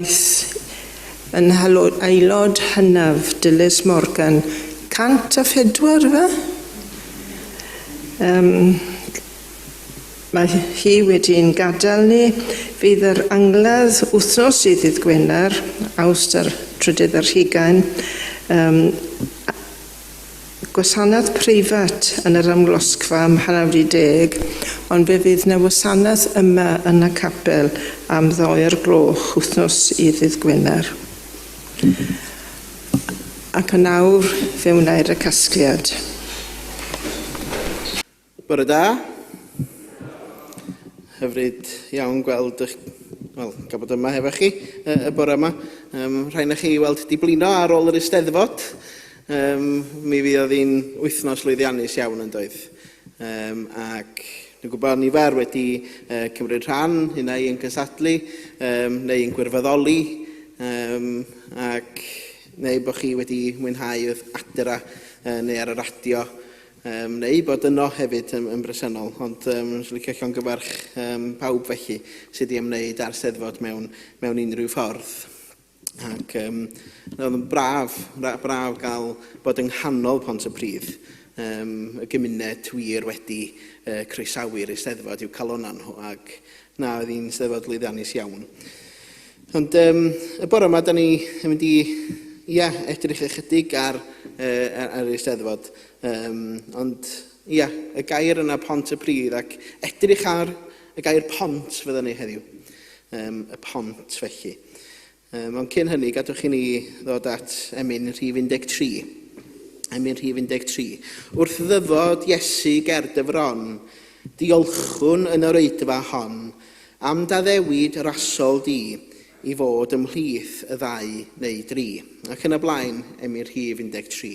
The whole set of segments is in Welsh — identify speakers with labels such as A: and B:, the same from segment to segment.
A: Daeth yn aelod hynaf Dilys Morgan 104 yfe? Yym mae hi wedi'n gadael ni. Fydd yr angladd wythnos sydd ddydd Gwener, Awst a'r trydydd ar hugain. Yym Gwasanaeth preifat yn yr Amlosgfa am hanner wedi deg, ond fe fydd 'na wasanaeth yma yn y capel am ddoi o'r gloch wythnos i ddydd Gwener. Ac yn awr fe wna i'r casgliad.
B: Bore da. Hyfryd iawn gweld ych... Wel, gael bod yma hefo chi y, y bore yma. Um, rhai na chi weld di blino ar ôl yr eisteddfod. Um, mi fydd oedd hi'n wythnos lwyddiannus iawn yn doedd. Um, ac Dwi'n gwybod nifer wedi uh, cymryd rhan, unau yn cystadlu um, neu yn gwirfoddoli, um, ac neu bod chi wedi mwynhau wrth adra uh, neu ar y radio. Yym, neu bod yno hefyd yn, yn bresennol. Ond um, swn licio llongyfarch um, pawb felly sydd wedi ymwneud â'r Steddfod mewn, mewn unrhyw ffordd. Ac um, oedd yn braf, braf, braf gael bod yng nghanol Pont y Pridd, um, y gymuned wir wedi uh, croesawu'r Eisteddfod i'w calonau nhw ac Na, oedd hi'n steddfod lwyddiannus iawn. Ond um, y bore yma, da ni yn mynd i ia, edrych ychydig ar, uh, ar ei steddfod. Um, ond ia, y gair yna pont y pridd ac edrych ar y gair pont fydden ni heddiw. Um, y pont felly. Um, ond cyn hynny, gadwch i ni ddod at emyn rhif 13. Emyn rhif 13. Wrth ddyfod Iesu ger dyfron, diolchwn yn yr oedfa hon am daddewid rasol di i fod ymhlith y ddau neu dri. Ac yn y blaen, emyn rhif 13.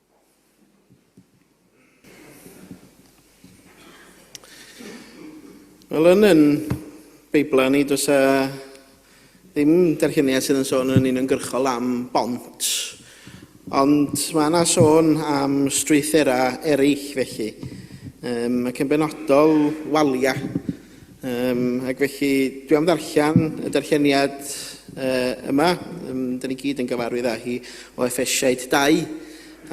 B: Wel, yn yn Beiblau ni, does e ddim derhyniad sydd yn sôn yn uniongyrchol am bont. Ond mae yna sôn am strwythurau eraill felly, um, ac yn benodol waliau. Um, ac felly, dwi am ddarllen y darlleniad uh, yma. Um, da ni gyd yn gyfarwydd â hi o Efesiaid 2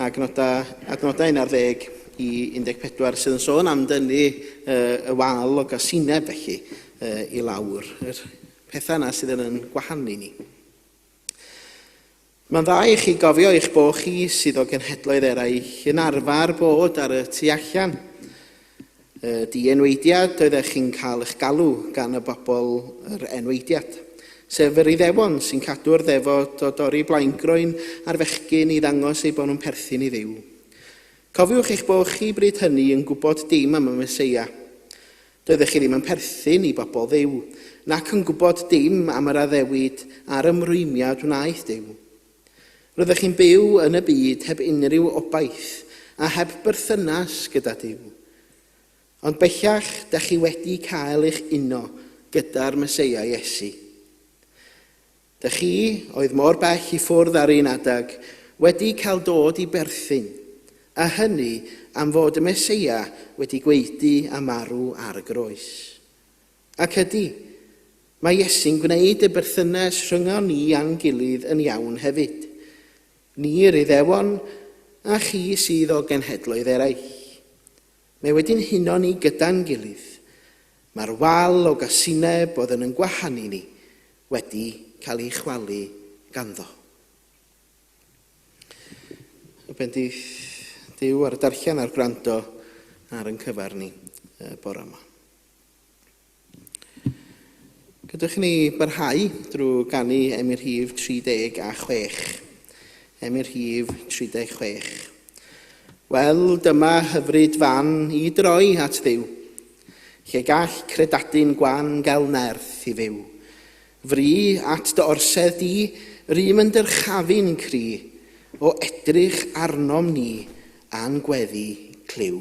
B: ac nodau, adnodau 11 i 14 sydd yn sôn am dynnu uh, y wal o gasineb felly uh, i lawr. Yr pethau yna sydd yn yn gwahanu ni. Mae'n dda i chi gofio eich bo chi sydd o genhedloedd eraill yn arfer bod ar y tu allan. Y di-enweidiad oeddech chi'n cael eich galw gan y bobl yr enweidiad, sef yr Iddewon sy'n cadw'r ddefod o dorri blaengroen ar fechgyn i ddangos eu bod nhw'n perthyn i Dduw. Cofiwch eich bo chi bryd hynny yn gwybod dim am y Meseia. Doeddech chi ddim yn perthyn i bobl Dduw, nac yn gwybod dim am yr addewid a'r ymrwymiad wnaeth Duw. Roeddech chi'n byw yn y byd heb unrhyw obaith a heb berthynas gyda Duw. Ond bellach da chi wedi cael eich uno gyda'r Meseia Iesu. Da chi oedd mor bell i ffwrdd ar un adeg, wedi cael dod i berthyn, a hynny am fod y Meseia wedi gwaedu a marw ar y groes. Ac ydy, mae Iesu'n gwneud y berthynas rhyngon ni a'n gilydd yn iawn hefyd. Ni yr Iddewon, a chi sydd o genhedloedd eraill. Mae wedi'n huno ni gyda'n gilydd. Mae'r wal o gasineb oedd yn yn gwahanu ni wedi cael ei chwalu ganddo. Y bendith Duw ar y darllen a'r gwrando ar yn cyfar ni bore yma. Gadewch i ni barhau drwy ganu Emyr Rhif 36. Emyr Rhif 36. Wel, dyma hyfryd fan i droi at Dduw, lle gall credadun gwan gael nerth i fyw. Fri at dy orsedd di, rym yn dyrchafu'n cry, o edrych arnom ni a'n gweddi clyw.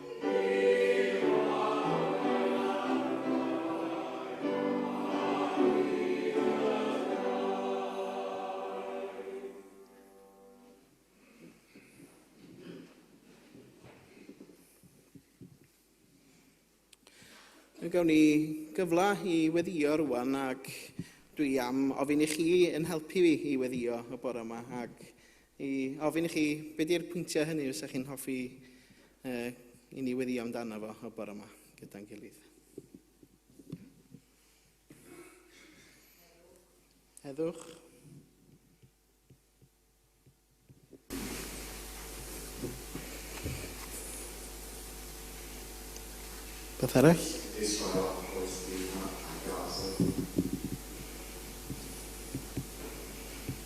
B: gawn ni gyfle i weddio rwan ac dwi am ofyn i chi yn helpu fi i weddio y bore yma ac I ofyn i chi, be di'r pwyntiau hynny fysa chi'n hoffi uh, i ni weddio amdano fo y bore yma gyda'n gilydd? Heddwch. Beth arall? Israel a Palestina a Gaza.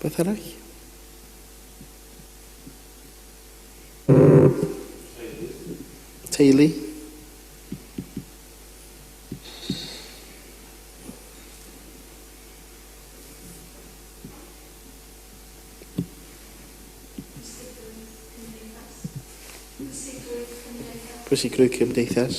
B: Rhywbeth arall? Teulu. Pwysigrwydd cymdeithas.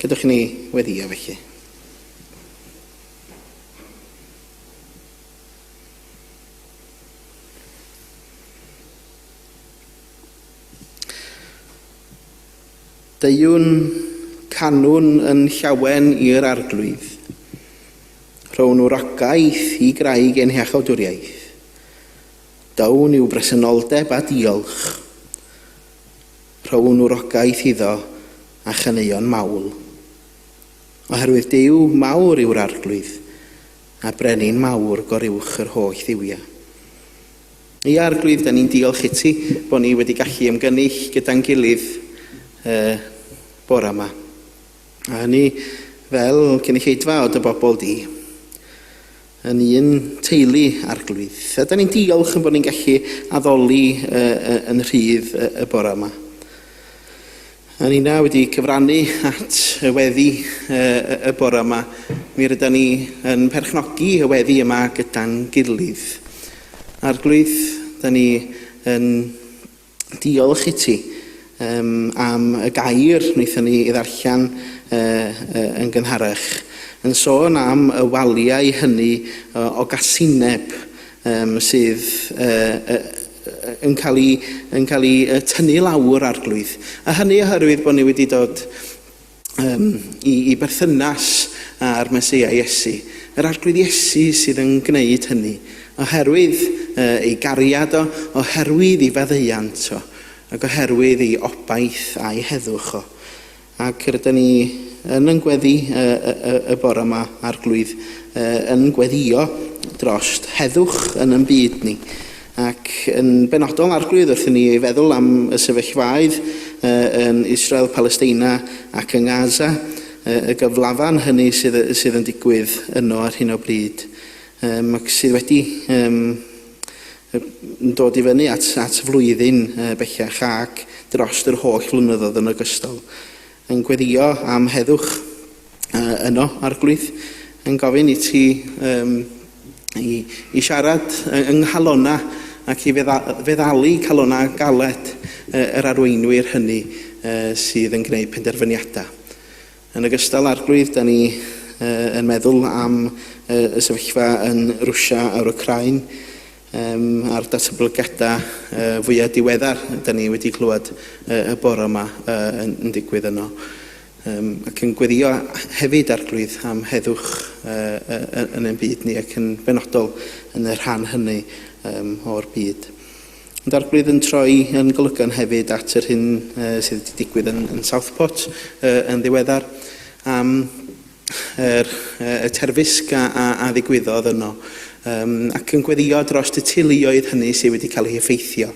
B: Gadewch i ni weddio felly. Deuwn canwn yn llawen i'r arglwydd, rhown wragaeth i graig ein heachawdwriaeth. Dawn i'w bresenoldeb a diolch. rhown wrogaeth iddo a chaneuon mawl. Oherwydd Duw mawr yw'r Arglwydd, a Brenin mawr goruwch yr holl dduwia. Ia, Arglwydd, da ni'n diolch i ti bod ni wedi gallu ymgynnull gyda'n gilydd y bora yma. A hynny fel cynulleidfa o dy bobl di, yn un teulu Arglwydd. A da ni'n diolch yn bod ni'n gallu addoli yn rhydd y bore yma. A ni na wedi cyfrannu at y weddi y bore yma, mi rydyn ni yn perchnogi y weddi yma gyda'n gilydd. Arglwydd, da ni yn Diolch iti um, am y gair wnaethon ni ei ddarllen uh, uh, yn gynharach, yn sôn am y waliau hynny uh, o gasineb um, sydd uh, uh, yn cael ei, yn cael ei uh, tynnu lawr arglwydd. A hynny oherwydd bod ni wedi dod um, i, i berthynas â'r Mesoea Iesu. Yr arglwydd Iesu sydd yn gwneud hynny, oherwydd uh, ei gariad o, oherwydd ei faddeuant o, ac oherwydd ei obaith a'i heddwch o. Ac rydyn ni yn yn gweddi y, y, y bore yma, arglwydd, yn gweddio drost heddwch yn yn byd ni. Ac yn benodol, Arglwydd, wrth i ni feddwl am y sefyllfaoedd yn Israel, Palesteina ac yng Gaza, y gyflafan hynny sydd, sydd yn digwydd yno ar hyn o bryd, um, ac sydd wedi um, dod i fyny at, at flwyddyn bellach ac dros yr holl flynyddoedd yn ogystal. Yn gweddïo am heddwch yno, Arglwydd. Yn gofyn i ti um, i, i siarad yng nghalona ac i fedda, feddalu calona galed yr arweinwyr hynny sydd yn gwneud penderfyniadau. Yn ogystal, Arglwydd, da ni yn meddwl am y sefyllfa yn Rwsia a'r Wcrain. Yym, a'r datblygiadau yy fwya' diweddar 'da ni wedi clywed yy y bore 'ma yy yn yn digwydd yno. Yym, ac yn gweddïo hefyd, Arglwydd, am heddwch yy yy yy yn ein byd ni ac yn benodol yn y rhan hynny yym o'r byd. Ond Arglwydd yn troi yn golygon hefyd at yr hyn yy sydd wedi digwydd yn yn Southport yy yn ddiweddar am yr y terfysg a, a, a ddigwyddodd yno, um, ac yn gweddio dros y teuluoedd hynny sydd wedi cael eu heffeithio.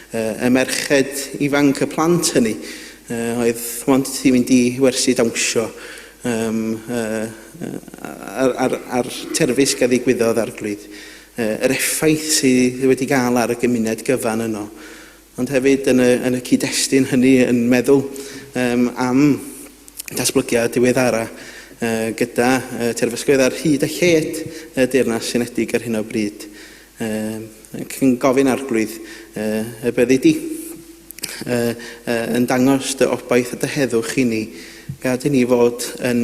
B: Uh, y merched ifanc y plant hynny uh, oedd ond wedi mynd i wersi dawnsio um, uh, ar, ar, ar terfysg a ddigwyddodd arglwydd. Uh, yr effaith sydd wedi gael ar y gymuned gyfan yno. ond hefyd yn y, yn y cyd-destun hynny yn meddwl um, am datblygiad diweddara uh, gyda uh, terfysgoedd ar hyd a lled y Deyrnas Unedig ar hyn o bryd. Uh, yn gofyn arglwydd uh, y byddi di uh, uh, yn dangos dy obaith a dy heddwch i ni, gad i ni fod yn,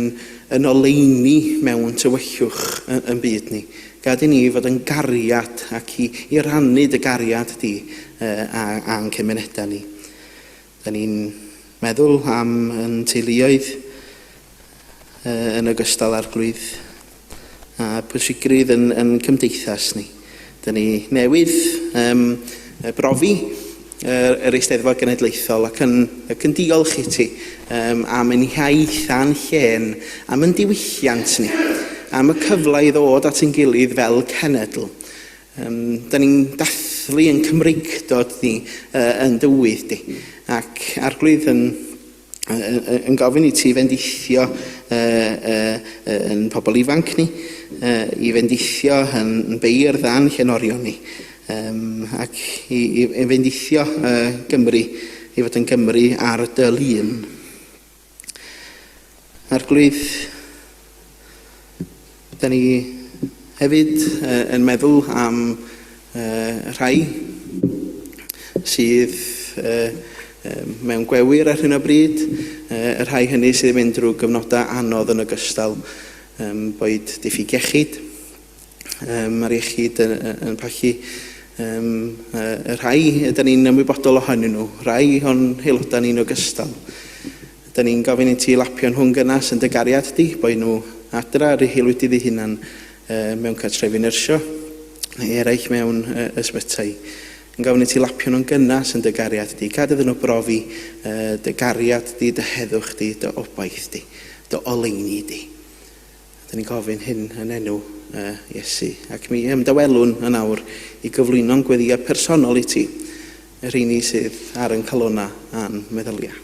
B: yn oleini mewn tywyllwch yn, yn byd ni. Gad i ni fod yn gariad ac i i rannu dy gariad di a a'n cymunedau ni. Da ni'n meddwl am yn teuluoedd yn ogystal â'r gwlwydd a pwysigrwydd yn yn cymdeithas ni. Da ni newydd brofi yr, yr Eisteddfod Genedlaethol ac yn, ac yn diolch i ti um, am yn hiaith a'n llên, am yn diwylliant ni, am y cyfle i ddod at ein gilydd fel cenedl. Um, da ni'n dathlu yn Cymreigdod ni, uh, yn dywydd di, ac arglwydd yn yn gofyn i ti fendithio yn pobl ifanc ni, i fendithio yn beirdd a'n llenorion ni, ac i, i, i fendithio Gymru, i fod yn Gymru ar dy lun. Arglwydd, Da ni hefyd uh, yn meddwl am uh, rhai sydd uh, mewn gwewyr ar hyn o bryd, uh, y rhai hynny sydd yn mynd drwy gyfnodau anodd yn ogystal, um, boed diffyg iechyd, Um, mae'r iechyd yn, yn pachu um, y rhai ydyn ni'n ymwybodol ohonyn nhw, rhai o'n haelodau ni'n ogystal. Ydyn ni'n gofyn i ti lapio'n hwn gynas yn dy gariad di, boi nhw adra ar ei wedi ddi hunan uh, mewn cartrefi nyrsio, neu eraill mewn uh, ysbytai. Yn gofyn i ti lapio'n hwn gynas yn dy gariad di, gad iddyn nhw brofi uh, dy gariad di, dy heddwch di, dy obaith di, dy oleini di. Dyn ni'n gofyn hyn yn enw y Iesu, ac mi ymdawelwn yn awr i gyflwyno'n gweddiau personol i ti, y rheini sydd ar yn calona a'n meddyliau.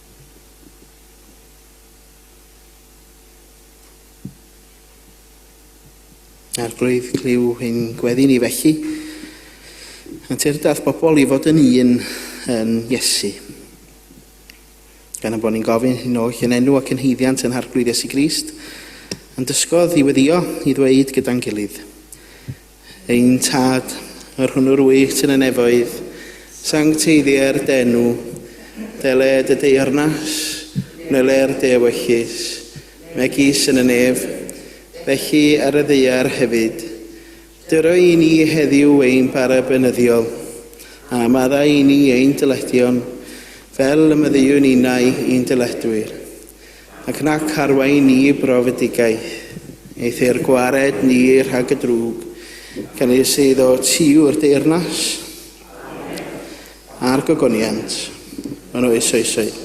B: Arglwydd, clyw ein gweddi ni felly. Yn teirdath bobl i fod yn un yn Iesu. Gan am bod ni'n gofyn hyn oll yn enw ac yn heiddiant yn Harglwydd Iesu Grist, yn dysgodd i weddio, i ddweud gyda'n gilydd. Ein Tad, yr hwn yr wyt yn y nefoedd, sancteiddiau'r denw, dele dy deyrnas, wneler dy ewyllys, megis yn y nef, felly ar y ddaear hefyd. Dyro i ni heddiw ein bara benyddiol, a madda i ni ein dyledion, fel y maddeuwn innau i'n dyledwyr. Ac nac arwain ni i brofedigaeth, neith eir gwared ni rhag y drwg, gan ei sydd o ti yw'r deyrnas, a'r gogoniant, yn oes oesoedd.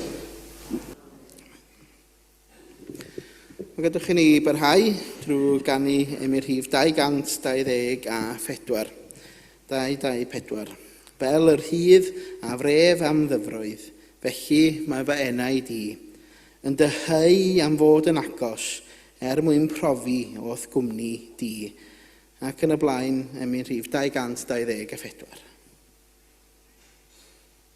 B: Mae gadwch chi ni barhau drwy ganu ym i rhif 224. 224. Fel y rhydd a wref am ddyfroedd, felly mae fy enaid i, yn dyheu am fod yn agos, er mwyn profi o'th gwmni di, ac yn y blaen, emyn rhif 224.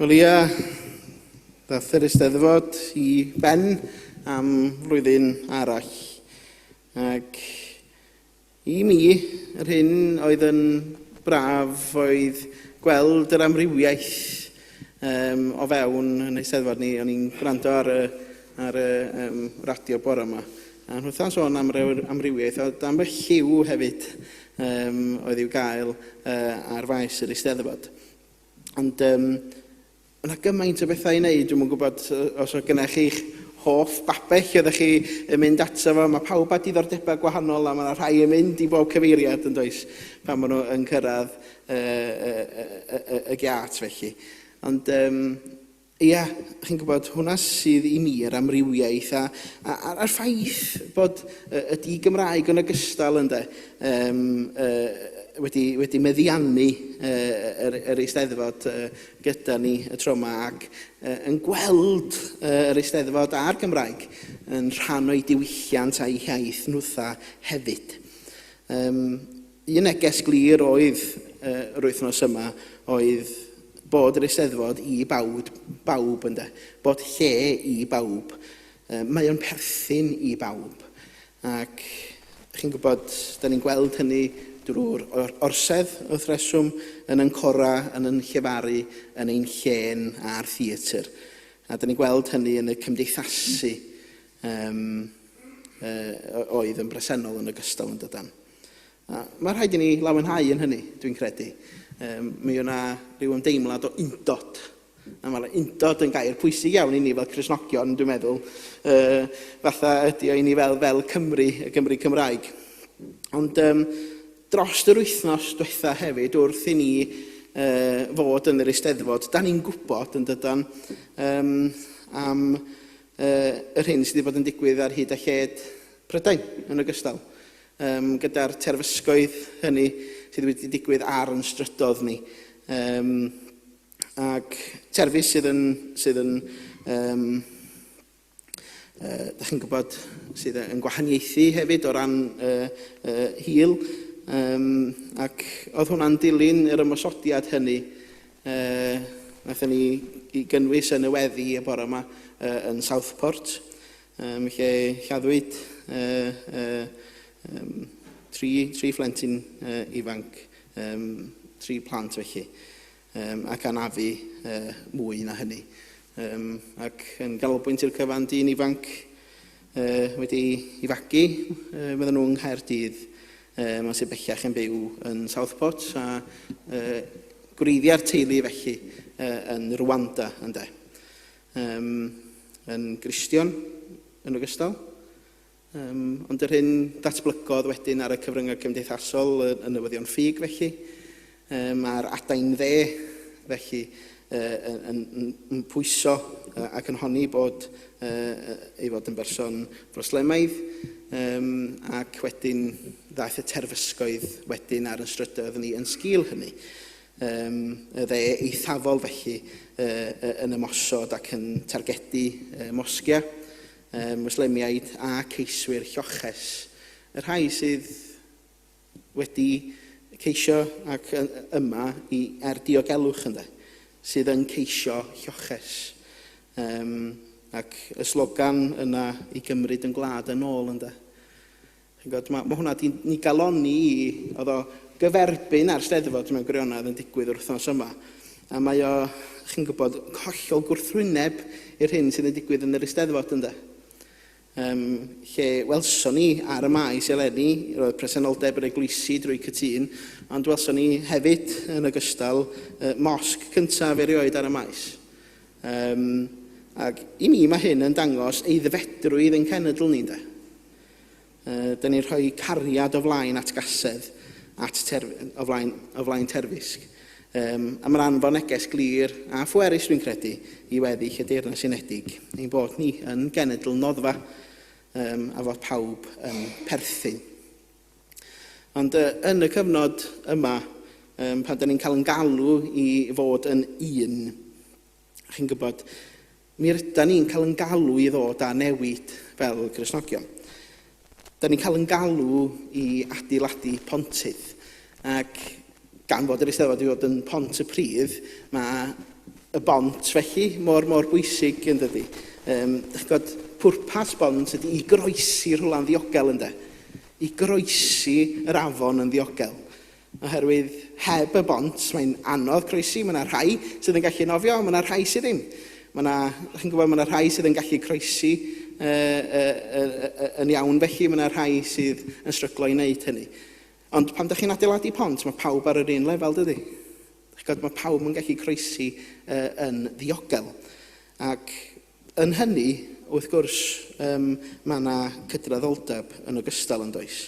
B: Wel ia, ddaeth yr Eisteddfod i ben am flwyddyn arall. Ac i mi, yr hyn oedd yn braf oedd gweld yr amrywiaeth Yym, o fewn yn Eisteddfod ni, o'n i'n gwrando ar y, ar y um, radio bore yma, a nhw wrtha'n sôn am yr amrywiaeth, a dan fy lliw hefyd um, oedd i'w gael uh, ar faes yr Eisteddfod. Ond um, yna gymaint o bethau i wneud, dwi'n gwybod os oedd gynnech chi'ch hoff babell oeddech chi yn mynd ato fo. Mae pawb â diddordebau gwahanol a mae yna rhai yn mynd i bob cyfeiriad yn does pan maen nhw yn cyrraedd y, y, y, y, y giât felly. Ond um, ia, chi'n gwybod, hwnna sydd i mi yr amrywiaeth a, a, a, a'r ffaith bod y, y di Gymraeg yn ogystal ynddo um, uh, wedi, wedi meddiannu uh, yr, yr eisteddfod uh, gyda ni y tro yma ac uh, yn gweld uh, yr eisteddfod a'r Gymraeg yn rhan o'i diwylliant a'i hiaith nhwtha hefyd. Um, Un neges glir oedd yr wythnos yma oedd bod yr Eisteddfod i bawd, bawb ynde, bod lle i bawb. Mae o'n perthyn i bawb ac chi'n gwybod, da ni'n gweld hynny drwy'r orsedd wrth reswm, yn yn cora, yn yn llefaru, yn ein llên a'r theatr. A da ni'n gweld hynny yn y cymdeithasu um, uh, oedd yn bresennol yn ogystal yn dydan. A mae rhaid i ni lawenhau yn hynny, dwi'n credu. Um, mi yna rhyw ymdeimlad o undod. A mae'r undod yn gair pwysig iawn i ni fel Cresnogion, dwi'n meddwl. Uh, fatha ydy o i ni fel, fel Cymru, y Gymru Cymraeg. Ond um, dros yr wythnos diwetha hefyd, wrth i ni uh, fod yn yr eisteddfod, da ni'n gwybod yn dydan um, am uh, yr hyn sydd wedi bod yn digwydd ar hyd a lled Prydain yn ogystal. Yym, gyda'r terfysgoedd hynny sydd wedi digwydd ar yn strydodd ni. Yym, ac terfys sydd yn, sydd yn um, uh, da chi'n gwybod, sydd yn gwahaniaethu hefyd o ran uh, uh, hil. Um, ac oedd hwnna'n dilyn yr ymosodiad hynny. Uh, Naethon ni i gynnwys yn y weddi y bore yma uh, yn Southport. Yym, lle lladdwyd yy, yy, yym, tri, tri phlentyn yy, ifanc, yym, tri plant felly, yym, ac anafu yy, mwy na hynny. Yym, ac yn ganolbwynt i'r cyfan, dyn ifanc yy, wedi i fagu, yy, fydden nhw yng Nghaerdydd, yy, mae'n sydd bellach yn byw yn Southport, a yy, gwreiddiau'r teulu felly yy, yn Rwanda, ynddo. Yym, yn Gristion yn ogystal. Yym, ond yr hyn datblygodd wedyn ar y cyfryngau cymdeithasol, y, y newyddion ffug felly, um, a'r adain dde felly, uh, yn, yn, yn pwyso uh, ac yn honni bod uh, ei fod yn berson broslemaidd, um, ac wedyn ddaeth y terfysgoedd wedyn ar yn strydoedd ni yn sgil hynny. um, y dde eithafol felly uh, yn ymosod ac yn targedu uh, mosgiau, uh, Muslemiaid a ceiswyr lloches. Y rhai sydd wedi ceisio ac yma i, er diogelwch ynddo, sydd yn ceisio lloches. Um, ac y slogan yna i gymryd yn gwlad yn ôl ynddo. Chi'n gwybod, mae hwnna wedi ni galonni i, oedd o gyferbyn â'r Steddfod mewn gwirionedd yn digwydd yr wythnos yma. A mae o, chi'n gwybod, hollol gwrthwyneb i'r hyn sydd yn digwydd yn yr Eisteddfod ynde. Um, lle welson ni ar y maes eleni, roedd presenoldeb yr eglwysi drwy cytun, ond welson ni hefyd yn ogystal uh, mosg cyntaf erioed ar y maes. Um, ac i mi mae hyn yn dangos ei ddefedrwydd ein cenedl ni, de. Dyn ni'n rhoi cariad o flaen atgasedd at terf- o flaen, o flaen terfysg. Um, a mae'n anfon neges glir a phwerus, dwi'n credu, i weddill y Deyrnas Unedig, ein bod ni yn genedl noddfa um, a fod pawb yn perthyn. Ond uh, yn y cyfnod yma, um, pan dyn ni'n cael yn galw i fod yn un, chi'n gwybod, Mi rydan ni'n cael yn galw i ddod â newid fel Gristnogion. Da ni'n cael yn galw i adeiladu pontydd. Ac gan fod yr Eisteddfod wedi bod yn pont y pridd, mae y bont felly mor, mor bwysig yn dydy. Um, Dych chi'n gwybod, pwrpas bont ydy i groesi rhywle'n ddiogel, ynddo? I groesi yr afon yn ddiogel. Oherwydd heb y bont, mae'n anodd croesi. Mae yna rhai sydd yn gallu nofio, ond mae yna rhai sydd ddim. Mae yna, chi'n gwybod, mae yna rhai sydd yn gallu croesi yn iawn felly, mae yna rhai sydd yn stryglo i wneud hynny. Ond pan ydych chi'n adeiladu pont, mae pawb ar yr un lefel, dydy? Chod, mae pawb yn gallu croesi yn ddiogel. Ac yn hynny, wrth gwrs, um, mae yna cydraddoldeb yn ogystal yn does.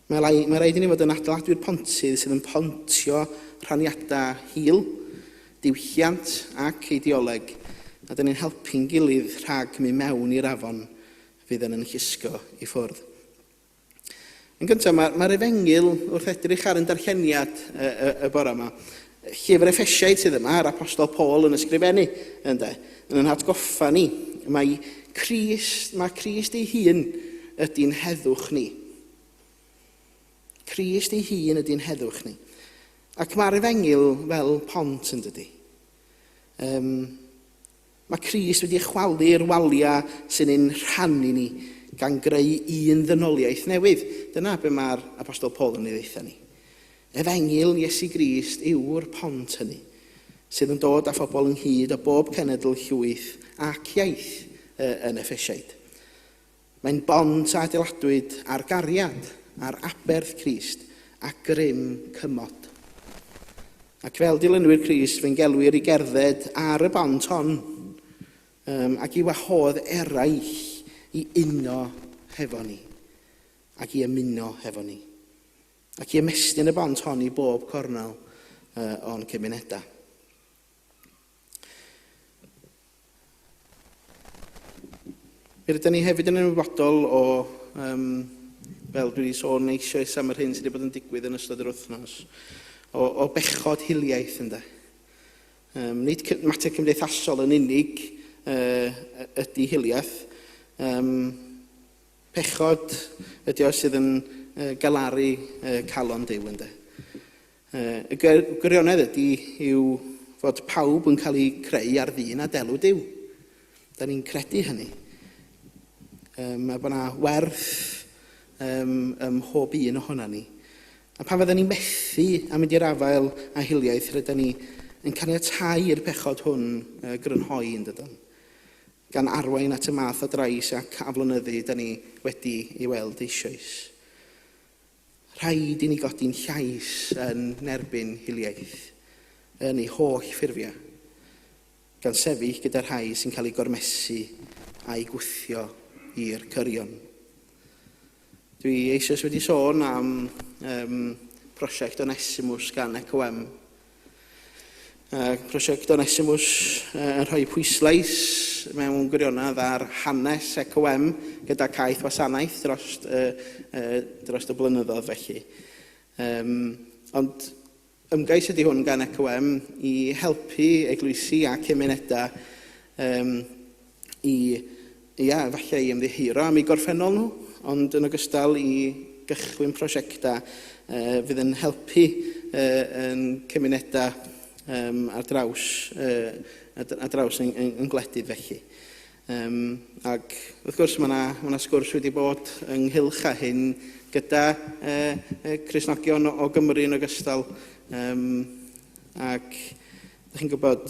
B: Mae mae rhaid i ni fod yn adeiladu'r pontydd sydd yn pontio rhaniadau hil, diwylliant ac eideoleg, a dyn ni'n helpu'n gilydd rhag mynd mewn i'r afon fydd yn yn llusgo i ffwrdd. Yn gyntaf, mae'r mae Efengyl, wrth edrych ar yn darlleniad y, y, y bore yma, Llyfr Effesiaid sydd yma, yr Apostol Paul yn ysgrifennu, ynde, yn yn hatgoffa ni mae Crist, mae Crist ei hun ydy'n heddwch ni. Crist ei hun ydy'n heddwch ni. Ac mae'r efengyl fel pont yn dydy. Um, Mae Crist wedi chwalu'r waliau sy'n ein rhannu ni, gan greu un ddynoliaeth newydd. Dyna be mae'r Apostol Paul yn ei ddeutha ni. Efengyl Iesu Grist yw'r pont hynny, sydd yn dod â phobl ynghyd o bob cenedl, llwyth ac iaith yn Effesiaid. Mae'n bont a adeiladwyd ar gariad, ar aberth Crist, a grym cymod. Ac fel dilynwyr Crist, fe'n gelwir i gerdded ar y bont hon, um, ac i wahodd eraill i uno hefo ni, ac i ymuno hefo ni, ac i ymestyn y bont hon i bob cornel uh, o'n cymunedau. Rydyn ni hefyd yn ymwybodol o, um, fel dwi wedi sôn eisoes am yr hyn sydd wedi bod yn digwydd yn ystod yr wythnos, o, o bechod hiliaeth ynddo. Um, nid mater cymdeithasol yn unig uh, ydy hiliaeth. Um, pechod ydy o sydd yn uh, galaru uh, calon Dyw ynddo. Y gwirionedd ydy yw fod pawb yn cael eu creu ar ddyn a delw Duw. Da ni'n credu hynny. Um, a bod yna werth um, ym mhob un ohono ni. A pan fydden ni methu a mynd i'r afael a hiliaeth, rydyn ni yn caniatau i'r pechod hwn uh, grynhoi yn dydyn. Gan arwain at y math o drais ac aflonyddu da ni wedi ei weld eisoes. Rhaid i ni godi'n llais yn erbyn hiliaeth yn ei holl ffurfiau, gan sefyll gyda'r rhai sy'n cael eu gormesu a'u gwthio i'r cyrion. Dwi eisoes wedi sôn am um, prosiect Onesimus gan EcoM, Mae prosiect Onesimus yn rhoi pwyslais mewn gwirionedd ar hanes ECOM gyda caeth wasanaeth dros, uh, uh, dros y blynyddoedd felly. Um, ond ymgais ydy hwn gan ECOM i helpu eglwysi a cymunedau um, i, ia, efallai i ymddiheuro am eu gorffennol nhw, ond yn ogystal i gychwyn prosiectau fydd yn helpu yn cymunedau ar draws, ar draws ein, ein, ein gwledydd felly. Um, ac wrth gwrs mae yna ma sgwrs wedi bod ynghylch â hyn gyda uh, Cresnogion o, o Gymru yn ogystal um, ac ydych chi'n gwybod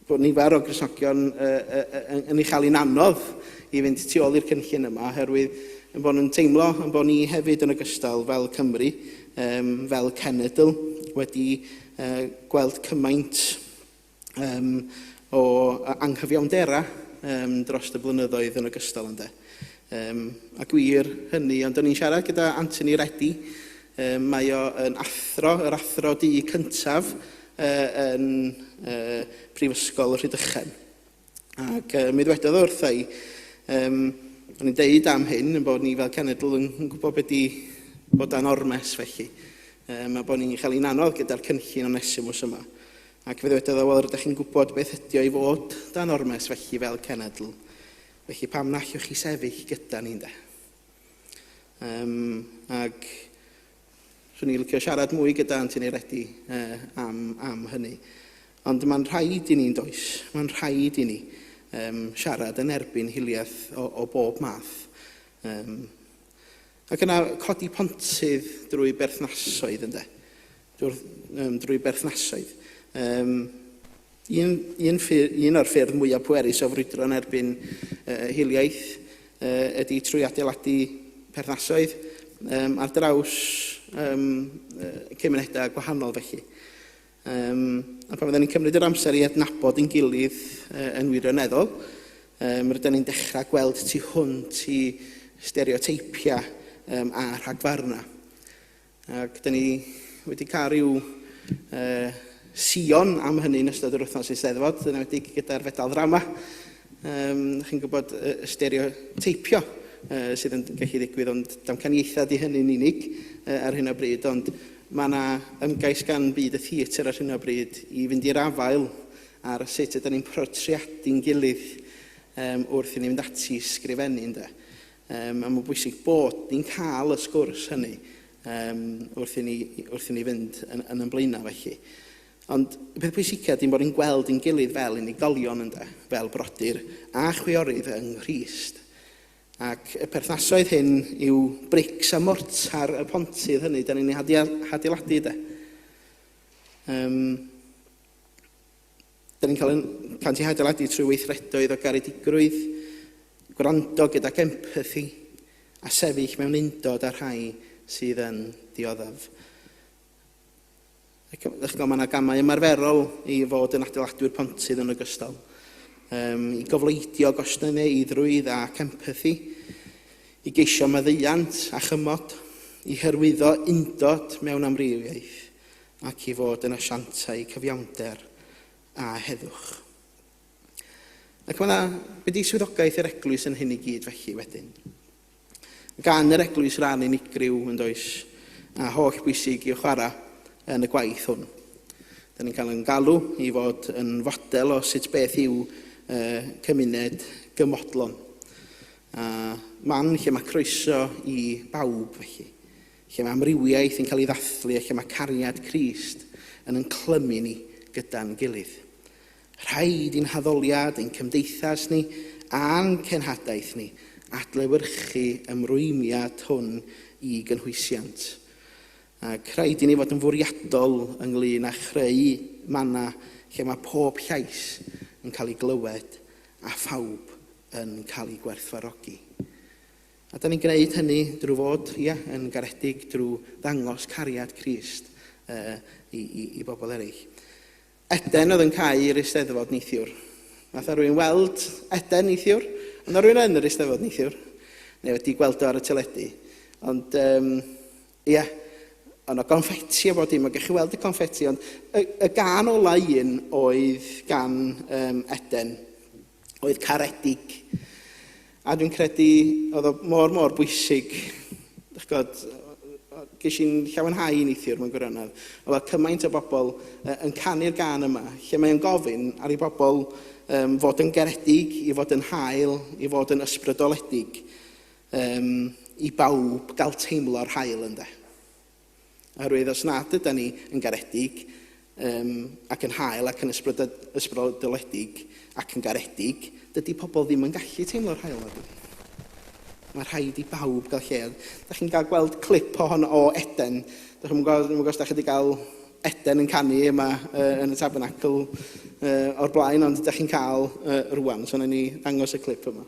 B: bod nifer o Grisogion yn ei chael hi'n anodd i fynd tu ôl i'r cynllun yma oherwydd ein bod nhw'n teimlo ein bod ni hefyd yn ogystal fel Cymru, fel cenedl, wedi gweld cymaint o anghyfiawnderau dros y blynyddoedd yn ogystal ynde. A gwir hynny, ond o'n i'n siarad gyda Anthony Reddy Yy, mae o yn athro, yr athro du cyntaf yy, yn yy, Prifysgol Rhydychen. Ac yy, mi ddwedodd o wrtha i, um, o'n i'n deud am hyn, yn bod ni fel cenedl yn, yn gwybod beth di bod dan ormes felly, um, a bod ni'n cael ein anodd gyda'r cynllun o Nesimus yma. Ac fe ddwedodd o, wel, rydych chi'n gwybod beth ydy o i fod dan ormes felly fel cenedl. Felly pam na allwch chi sefyll gyda ni'n de? Um, ac swn i'n licio siarad mwy gyda Antin Eiredi uh, am, am hynny. Ond mae'n rhaid i ni'n does, mae'n rhaid i ni um, siarad yn erbyn hiliaeth o, o bob math. Um, ac yna codi pontydd drwy berthnasoedd ynddo. drwy'r, um, drwy berthnasoedd. Um, un, un, ffyr, un o'r ffyrdd mwyaf pwerus o frwydro yn erbyn uh, hiliaeth uh, ydy trwy adeiladu perthnasoedd um, ar draws um, uh, cymunedau gwahanol felly. Um, a pan fydden ni'n cymryd yr amser i adnabod yn gilydd uh, yn wirioneddol, um, rydyn ni'n dechrau gweld tu hwnt i stereoteipiau um, a rhagfarnau. Ac da ni wedi cael rhyw uh, sion am hynny yn ystod yr wythnos eisteddfod, yn wedi gyda'r fedal ddrama. Um, chi'n gwybod y uh, stereoteipio uh, sydd yn gallu ddigwydd, ond damcaniaethau di hynny'n unig uh, ar hyn o bryd, ond mae yna ymgais gan byd y theatr ar hyn o bryd i fynd i'r afael ar sut ydym ni'n protriadu'n gilydd um, wrth i ni fynd ati sgrifennu. Ynda. Um, a mae'n bwysig bod ni'n cael y sgwrs hynny um, wrth, i ni, wrth i ni fynd yn, yn ymlaenau felly. Ond y peth pwysica dim bod ni'n gweld yn gilydd fel unigolion ynddo, fel brodyr a chwiorydd yng Nghyst. Ac y perthnasoedd hyn yw brics a mortar y pontydd hynny, da ni'n ei hadeiladu de. Um, Da ni'n cael ein plant i hadeiladu trwy weithredoedd o garedigrwydd, gwrando gydag empathi a sefyll mewn undod â'r rhai sydd yn dioddef. Ac ydych chi'n gweld, mae yna gamau ymarferol i fod yn adeiladwyr pontydd yn ogystal, um, i gofleidio gostyneiddrwydd ac empathi, i geisio maddeuant a chymod, i hyrwyddo undod mewn amrywiaeth, ac i fod yn asiantau cyfiawnder a heddwch. Ac mae yna mynd i swyddogaeth yr eglwys yn hyn i gyd felly wedyn. Gan yr eglwys ran unigryw yn does a holl bwysig i'w chwarae yn y gwaith hwn. Da ni'n cael yn galw i fod yn fodel o sut beth yw uh, cymuned gymodlon. A man lle mae croeso i bawb felly. Lle mae amrywiaeth yn cael ei ddathlu a lle mae cariad Crist yn yn clymu ni gyda'n gilydd. Rhaid i'n haddoliad, ein cymdeithas ni a'n cenhadaeth ni adlewyrchu ymrwymiad hwn i gynhwysiant. Ac rhaid i ni fod yn fwriadol ynglŷn â chreu mannau lle mae pob llais yn cael ei glywed a phawb yn cael ei gwerthfawrogi. A dan ni'n gwneud hynny drwy fod, ia, yn garedig, drwy ddangos cariad Crist i, i, i bobl eraill. Eden oedd yn cael yr eisteddfod neithiwr. Nath rwy'n weld Eden neithiwr? Ond rwy'n yn yr eisteddfod neithiwr? Neu wedi gweld o ar y teledu? Ond, um, ia, ond o gonfetti a bod dim, ond gech chi weld y confetti, ond y, y gan ola un oedd gan um, Eden. oedd caredig. A dwi'n credu oedd o mor, mor bwysig. Dych god, ges i'n llawenhau i neithiwr mewn gwirionedd. Oedd fel cymaint o bobl uh, yn canu'r gan yma, lle mae'n gofyn ar ei bobl um, fod yn garedig, i fod yn hael, i fod yn ysbrydoledig, um, i bawb gael teimlo'r hael ynddo. Oherwydd os nad ydan ni yn garedig um, ac yn hael ac yn ysbrydoledig ac yn garedig, dydy pobl ddim yn gallu teimlo'r hael na dyn. Mae rhaid i bawb gael lle. Da chi'n cael gweld clip o hon o Eden. Da chi'n gweld, os da chi wedi cael Eden yn canu yma uh, yn y tabernacl uh, o'r blaen, ond da chi'n cael uh, rwan. So, ni ddangos y clip yma.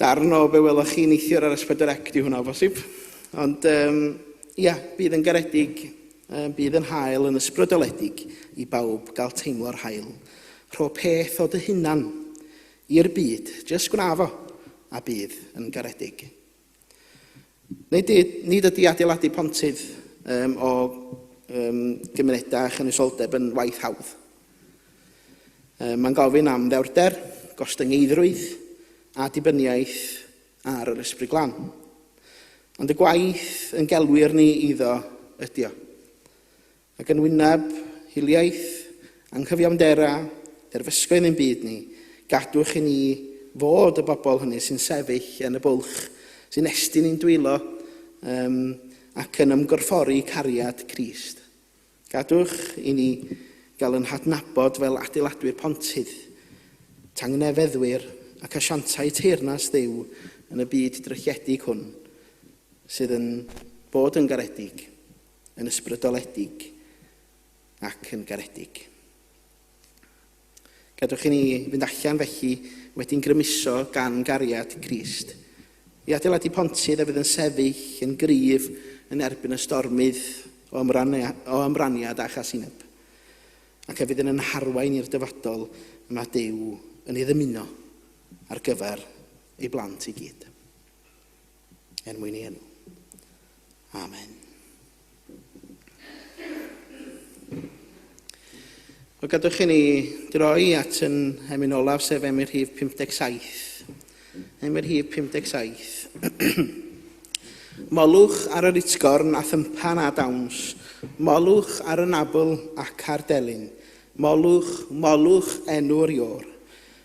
B: Darn o be welwch chi neithiwr ar S4C di hwnna o bosib. Ond um, ia, bydd yn garedig, um, bydd yn hael yn ysbrydoledig i bawb gael teimlo'r hael. Rho peth o dy hunan i'r byd, jyst gwna fo, a bydd yn garedig. Nid, nid ydy adeiladu pontydd um, o um, gymunedau a chynisoldeb yn waith hawdd. Um, Mae'n gofyn am ddewrder, gostyngeiddrwydd a dibyniaeth ar yr ysbryd glan. Ond y gwaith yn gelwir ni iddo ydio. Ac yn wyneb hiliaeth, anghyfiawnder a derfysgoedd ein byd ni, gadwch i ni fod y bobl hynny sy'n sefyll yn y bwlch, sy'n estyn ein dwylo um, ac yn ymgorffori cariad Crist. Gadwch i ni gael yn hadnabod fel adeiladwyr pontydd, tangnefeddwyr ac asiantau teyrnas ddew yn y byd drychiedig hwn, sydd yn bod yn garedig. yn ysbrydoledig ac yn garedig. Gadwch i ni fynd allan felly wedi'n grymuso gan gariad Crist i adeiladu pontydd a fydd yn sefyll yn gryf yn erbyn y stormydd o, ymrania, o ymraniad a chasineb, ac a fydd yn yn harwain i'r dyfodol y mae Duw yn ei ddymuno ar gyfer ei blant i gyd. er mwyn ei enw. Amen. Wel, gadwch i ni droi at yn emyn olaf, sef emyn rhif 57. Emyn rhif 57. Molwch ar yr itgorn a thympan a dawns, molwch ar y nabl ac ar delyn, molwch, molwch enw'r ior.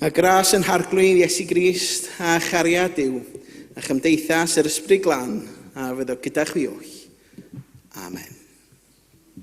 B: A gras yn harglwydd Iesu Grist, a chariad yw, a chymdeithas yr Ysbryd Glân, a fydd o gyda chwi oll. Amen.